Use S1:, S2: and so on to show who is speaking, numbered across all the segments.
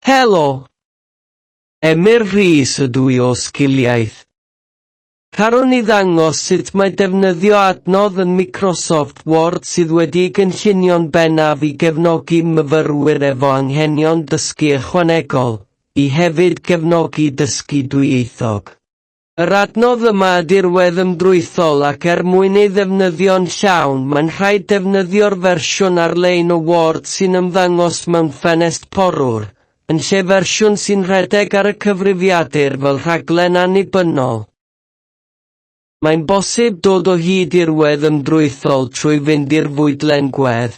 S1: Helo! Emyr Rhys ydw i o Sgiliaeth. Carwn i ddangos sut mae defnyddio adnodd yn Microsoft Word sydd wedi'i gynllunio'n bennaf i gefnogi myfyrwyr efo anghenion dysgu ychwanegol, i hefyd gefnogi dysgu dwyieithog. Yr adnodd yma y dirwedd ymdrwythol ac er mwyn ei ddefnyddio'n llawn mae'n rhaid defnyddio'r fersiwn ar-lein o Word sy'n ymddangos mewn ffenest porwr, yn lle fersiwn sy'n rhedeg ar y cyfrifiadur fel rhaglen annibynnol. Mae'n bosib dod o hyd i'r wedd ymdrwythol trwy fynd i'r fwydlen gwedd.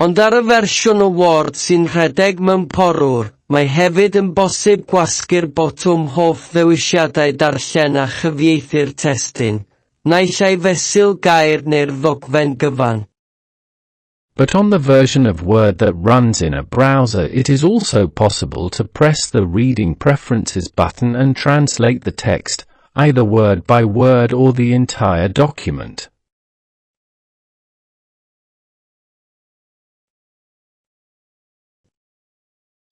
S1: Ond ar y fersiwn o Word sy'n rhedeg mewn porwr, mae hefyd yn bosib gwasgu'r botwm Hoff Ddewisiadau Darllen a chyfieithu'r testun, naill ai fesul gair neu'r ddogfen gyfan.
S2: But on the version of Word that runs in a browser it is also possible to press the Reading Preferences button and translate the text, either word by word or the entire document.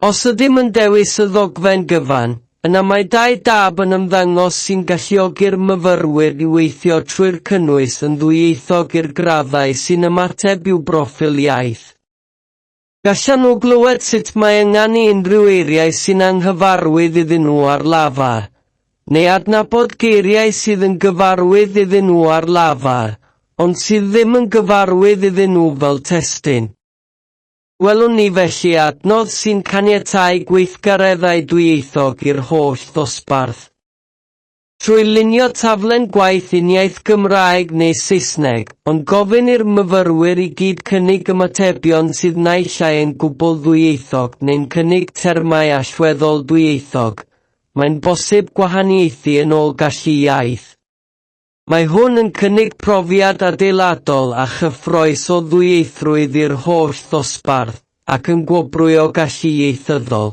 S1: Os ydym yn dewis y ddogfen gyfan, yna mae dau dab yn ymddangos sy'n galluogi'r myfyrwyr i weithio trwy'r cynnwys yn ddwyieithog i'r graddau sy'n ymateb i'w broffil iaith. Gallan nhw glywed sut mae ynganu unrhyw eiriau sy'n anghyfarwydd iddyn nhw ar lafar, neu adnabod geiriau sydd yn gyfarwydd iddyn nhw ar lafar, ond sydd ddim yn gyfarwydd iddyn nhw fel testun. Gwelwn ni felly adnodd sy'n caniatáu gweithgareddau dwyieithog i'r holl ddosbarth. Trwy lunio taflen gwaith uniaith Gymraeg neu Saesneg, ond gofyn i'r myfyrwyr i gyd cynnig ymatebion sydd naill ai yn gwbl ddwyieithog neu'n cynnig termau allweddol dwyieithog, Mae'n bosib gwahaniaethu yn ôl gallu iaith. Mae hwn yn cynnig profiad adeiladol a chyffrous o ddwyieithrwydd i'r holl ddosbarth ac yn gwobrwyo gallu ieithyddol.